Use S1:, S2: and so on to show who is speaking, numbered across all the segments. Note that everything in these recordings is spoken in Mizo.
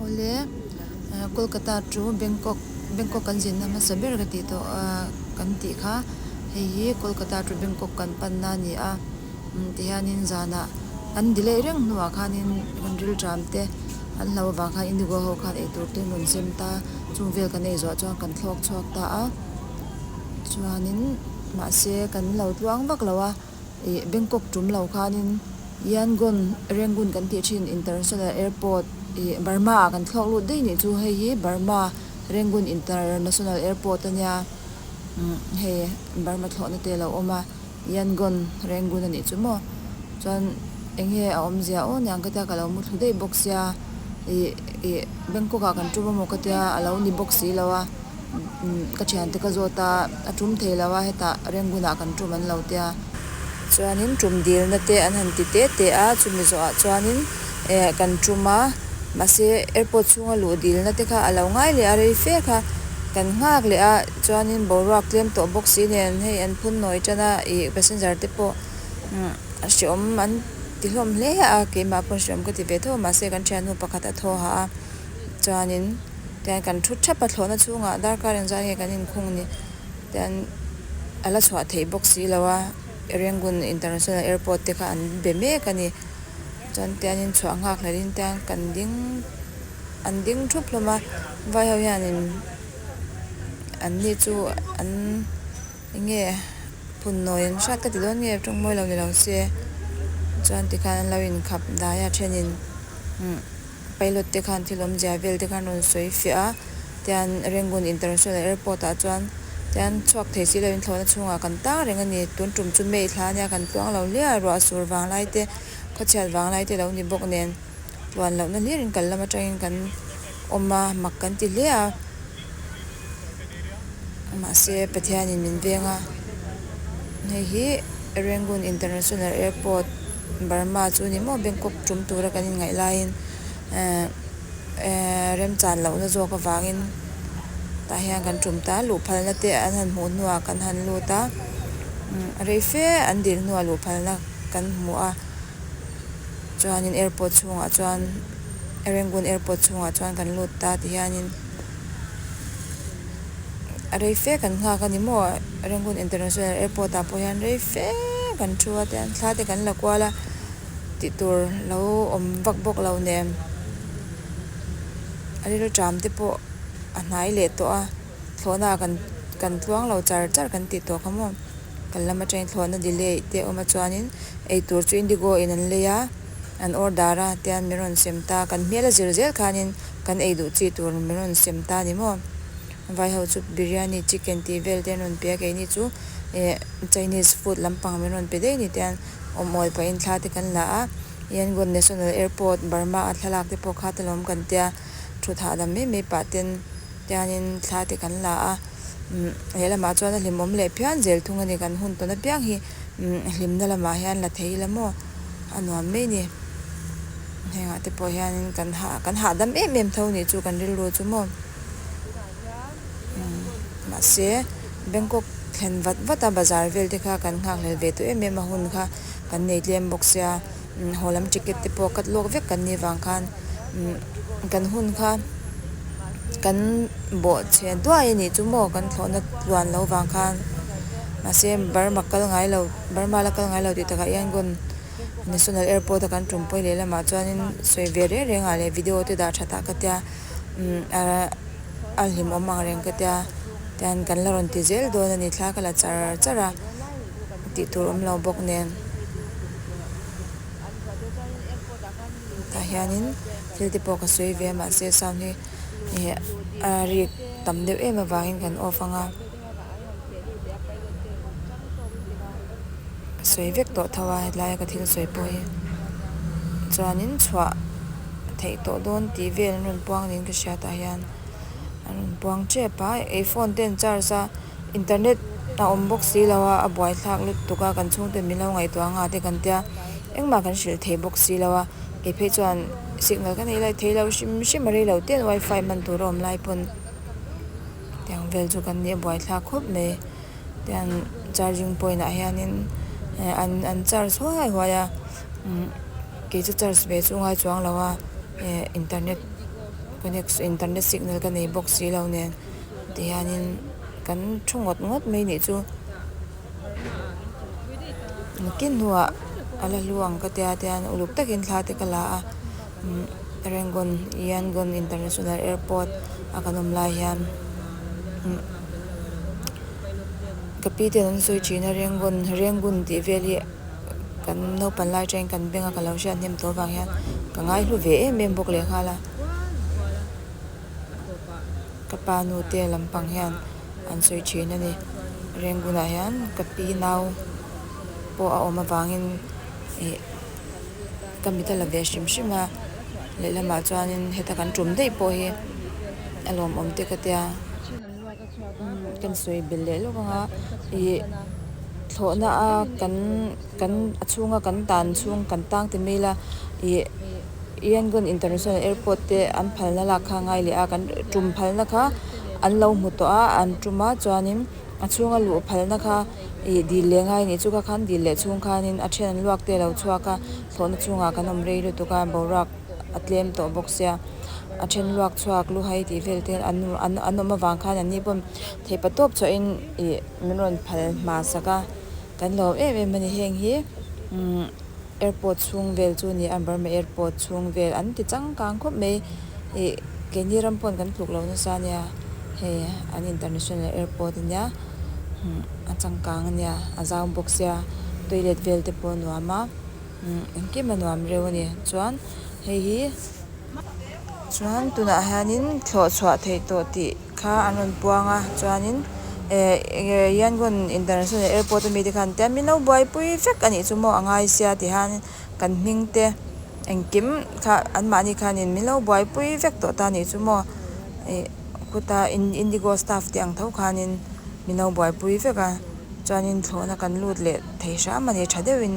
S1: Awle, Kolkata chu Bangkok, Bangkok kan zinna hmasa ber ka tih tawh a, kan tih kha, hei hi Kolkata chu Bangkok kan panna a ni a, ti hianin zanah an delay reng hnuah khanin hun rilṭam te an hlau avang khan Indigo ho khan eitur te'n rawn zem ta, chung vel kan ei zawh chuan kan thlawk chhuak ta a, chuanin mahse kan lo tluang vak lo a. ih Bangkok tum lo khanin Yangon Rangoon kan tih thin International Airport ih Burma ah kan thlawk lut daih nih chu hei hi Burma Rangoon International Airport a nia umm hei Burma thlawhna te lo awm a Yangon Rangoon a nih chu maw chuan eng nge a awm zia aw niang ka tia ka lo mu thlu daih bawk sia ih ih Bangkok ah kan tum amaw ka tia a lo ni bawk si lo a. Ka thiante ka zawt a, a tum thei lo a, hetah Rangoon-ah kan tum an lo tia. Chuanin tum dilna te an han ti teh teh a, chumi zawhah chuanin kan tum a, mahse airport chhunga luh dilna te kha a lo ngai leh a, rei fe kha kan nghak leh a, chuanin boruak tlem tawh bawk si nen hei an phun nawi tan a, ih passenger te pawh hreawm an ti hlawm hle a, keimah pawh hreawm ka ti ve tho a, mahse kan thiannu pakhat a thawha a, chuanin. Tiang kan thu thap a thlawhna chhungah darkar in zah hi kan in khung ni tian a la chhuah theih bawk si lo a, Rangoon International Airport te kha an be mek a ni. Chuan tian in chhuah nghak hlel in tiang kan ding an ding thup hlawm a, vai ho hian in an ni chu an enge phun nawi ang hrat ka ti dawn nge tawngmawi lo ni lo se, chuan tikhan an lo in khap dai a then in umm. Pilot te khan thil awmzia vel te khan rawn sawi fiah a, tian Rangoon International Airport ah chuan tian chhuak thei si loin thlawhna chhungah kan tang reng a ni, tun tum chu May thla ania kan tluang lo hliah a, ruah sur vang lai te, khawchhiat vang lai te lo ni bawk nen puan lohna hlir in kal lam atangin kan awm a, mak kan ti hle a. Mahse Pathianin min veng a, hei hi Rangoon International Airport, Burma chu ni maw Bangkok tum tura kan inngaih laiin ehh remchan lohna zawk avangin tah hian kan tum ta a, luhphalna te an han hmuh hnuah kan han lut a, rei fe an dir hnuah luhphalna kan hmu a, chuanin airport chhungah chuan Rangoon Airport chhungah chuan kan lut ta ti hianin. rei fek an nghak a ni maw Rangoon International Airport ah pawh hian rei fek an thu a tian thla te kan la kual a tih tur lo awm vak bawk lo nen a rilru ṭam te pawh a hnai leh tawh a thlawh naah kan kan tluang lo char char kan tih tawh kha maw kan lama ṭain thlawh na delay te awm a chuanin ei tur chu Indigo in an lei a an order a tian min rawn sem ta kan hmel a zir zel khanin. Kan ei duh chi tur min rawn sem ta ni maw? Vai ho chu Biryani, Chicken tih vel te an rawn pe a, keini chu eh Chinese food lampang min rawn pe daih ni te an awm awl pahin thla te kan la a, Yangon National Airport, Burma a thlalak te pawh kha ta lawm kan tia thut hahdam mai mai pah ten hianin thla te kan la a, umm lehlamah chuan a hlim awm leh phian zel thung a ni, kan hun tawn apiang hi. hlimna lamah hian la thei ila maw a nuam mai ni hengah te pawh hian kan hah kan hahdam em em tho nih chu kan rilru chu maw tunah hian umm mahse bangkok thlen vat vata bazar vel te kha kan nghakhlel ve tawh em em a hun kha kan nei tlem bawk sia. Haw lam ticket te pawh cut lawk vek kan nih vang khan kan hun kha kan bawh chhe duai anih chu maw kan thlawhna tluan loh vang khan mahse Burma kal ngai lo Burma la kal ngai lo tih tak ah Yangon national airport a kan tum pawih leh lamah chuanin sawi ve reng reng ah leh video te dah tha ta ka tia ahh hlim awm ang reng ka tia chuan kan la rawn ti zel dawn ani thla ka la char char a tih tur awm lo bawk nen. tah hianin thil te pawh ka sawi ve a mahse sound hi ihh a rik tam deuh em avangin kan off anga ka sawi vek tawh tho a helai ka thil sawi pawh hi chuanin chhuah theih tawh dawn tih vel an rawn puang niin ka hria tah hian an rawn puang tep a i phone ten charge a. Internet a awm bawk si lo a, a buaithlak lutuk a, kan chhungte min lo ngaihtuah ang a tih kan tia, engmah kan hrilh thei bawk si lo a, keiphei chuan signal ka nei lai thei lo hrim hrim a rei lo teh wifi man tur a awm lai pawn heti ang vel chu kan ni a buaithlak khawp mai tian charging point ah hianin an an charge huai huai a umm kei chu charge ve chu ngai chuang lo a eh internet connection internet signal ka nei bawk si lo nen. Tihianin kan thu ngawt ngawt mai nih chu ngati hnuah a la hlu ang ka tia tian uluk takin thla te ka la a Rangoon Yangon International Airport a kan awm lai hian ka pi te an sawi thin a Rangoon Rangoon tih vel hi kan naupang lai atangin kan beng a ka lo hriat hnem tawh avang hian ka ngai hlu ve em em bawk leh nghal a. Ka pa nu te lam pang hian an sawi thin a ni. Rangoon ah hian ka pi nau pawh a awm avang in ih ka mit a la ve hrim hrim a. Lehlamah chuan in heta kan tum daih pawh hi a lawm awm te ka tia. Kan sawi belh leh lo vang a, ih thlawhna a kan kan a chhunga kan dan chhung kan tang ti mail a, ih Yangon International Airport te an phalna lak kha a ngai leh a, kan tum phalna kha an lo hmu tawh a, an tum a chuanin a chhunga luh phalna kha ih dil leh ngai anih chu kha khan dil leh chhung khanin a then an luak te lo chhuak a, thlawhna chhungah kan awm rei lutuk a, boruak. a tlem tawh bawk sia. A then luak chhuak lu hai tih vel ten an awm avang khan an ni pawn thei pa tawp chauh in ih min rawn phal hma sak a, kan lawm em em a ni. Heng hi umm airport chhung vel chu ni a, Burma airport chhung vel an ti changkang khawp mai ih kei ni ram pawn kan thluk lo nasa a nia, hei an international airport a nia umm a changkang a nia a zau bawk sia toilet vel te pawh a nuam a. Engkim a nuam reu a ni. Chuan hei hi chuan tunah hianin thlawh chhuah theih tawh tih kha an rawn puang a chuanin eehh yangon international airport ami te khan an tia mi no buai pui vek a nih chu maw a ngai sia tih hianin kan hming te engkim kha an mahni khanin mi no buai pui vek tawh ta nih chu maw ih khuta indigo staff te ang tho khanin mi no buai pui vek a chuanin thlawhna kan lut leh thei hram a ni tha deuhin.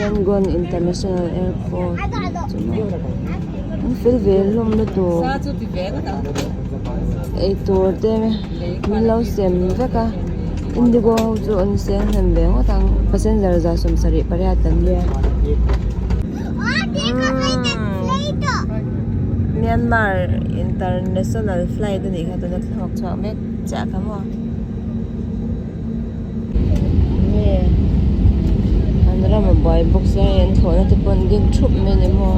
S1: Yangon International Airport thil vêl hlâwmna tûr eitûr te min lo sêm vek a Indigo ho chu an sênghlêm ve ngawt ang passenger zah sawm sarih pariat an nia Myanmar International Flight a nih kha tûnde thla hawk chhuak mêk chiah ka hmu a. Nge an ram a buai bawk se hei an thlawhna te pawh an din thup mai ni maw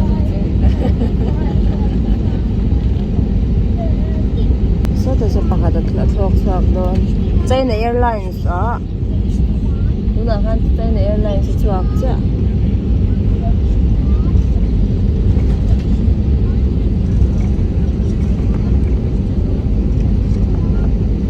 S1: sawtah sawn pakhat a thlawk chhuak dawn China airlines a tunah khan China airlines a chhuak chiah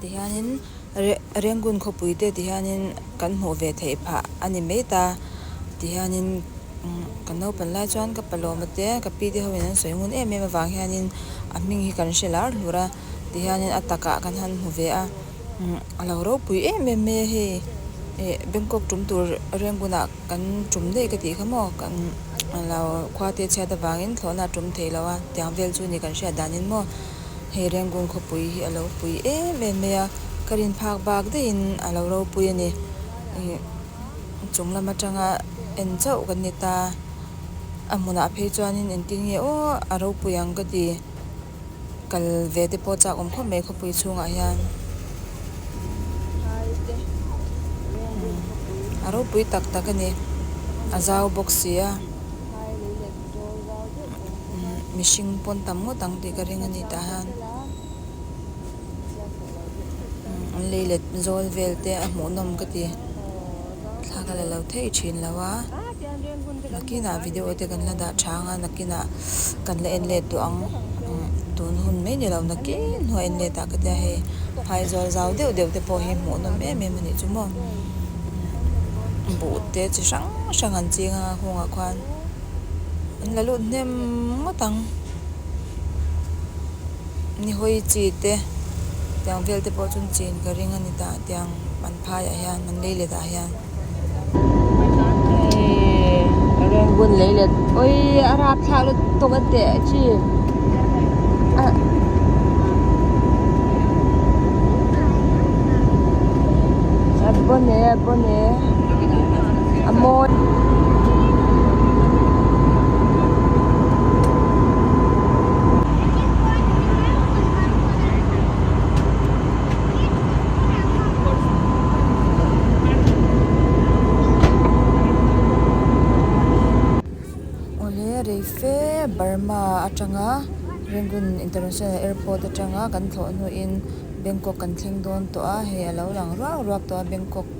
S1: ti hianin Rangoon khawpuite ti hianin kan hmuh ve theih phah a ni mai ta ti hianin ka naupang lai chuan ka pa lawma te ka pi te hoin an sawi ngun em em avang hianin a hming hi kan hre lar hlur a ti hianin a takah kan han hmu ve a a lo ropui em em mai a hei eh Bangkok tum tur Rangoon ah kan tum daih ka tih kha maw kan lo khuate chhiat avangin thlawhna a tum theih loh a tiang vel chu a ni kan hriat dan in maw. hei rengkung khawpui hi a lo pui em em mai a ka rin phak bak daih in a lo ropui a ni ih chung lam atanga en chauh kan ni ta a hmunah phei chuan in engtin nge aw a ropui ang ka ti kal ve te pawh chak awm khawp mai khawpui chhung ah hian a ropui tak tak a ni a zau bawk si a. mihring pawn tam ngawt ang tih ka ring a ni tah hian an lei let zawl vel te a hmuh nawm ka ti thlak a la lo thei thin lo a nakinah video te kan la dah tha ang a nakinah kan la en let tawh ang tun hun mai ni lo nakin hnu a en let ah ka tia hei phaizawl zau deuh deuh te pawh hi hmuh nawm em em a nih chu maw buh te chi hrang hrang an ching a hung ah khuan. an la lut hnem ngawt ang nihawi chi te tiang vel te pawh chuan chin ka ring a ni ta tiang an phai ah hian an lei let ah hian ka reng bun lei let awi a rap thlak lutuk lutuk a teh chi a bawh ne a bawh ne. a mawi awle reife Burma atanga Rangoon International Airport atanga kan thlawh hnuin Bangkok kan thleng dawn tawh a hei a lo lang ruak ruak tawh a Bangkok --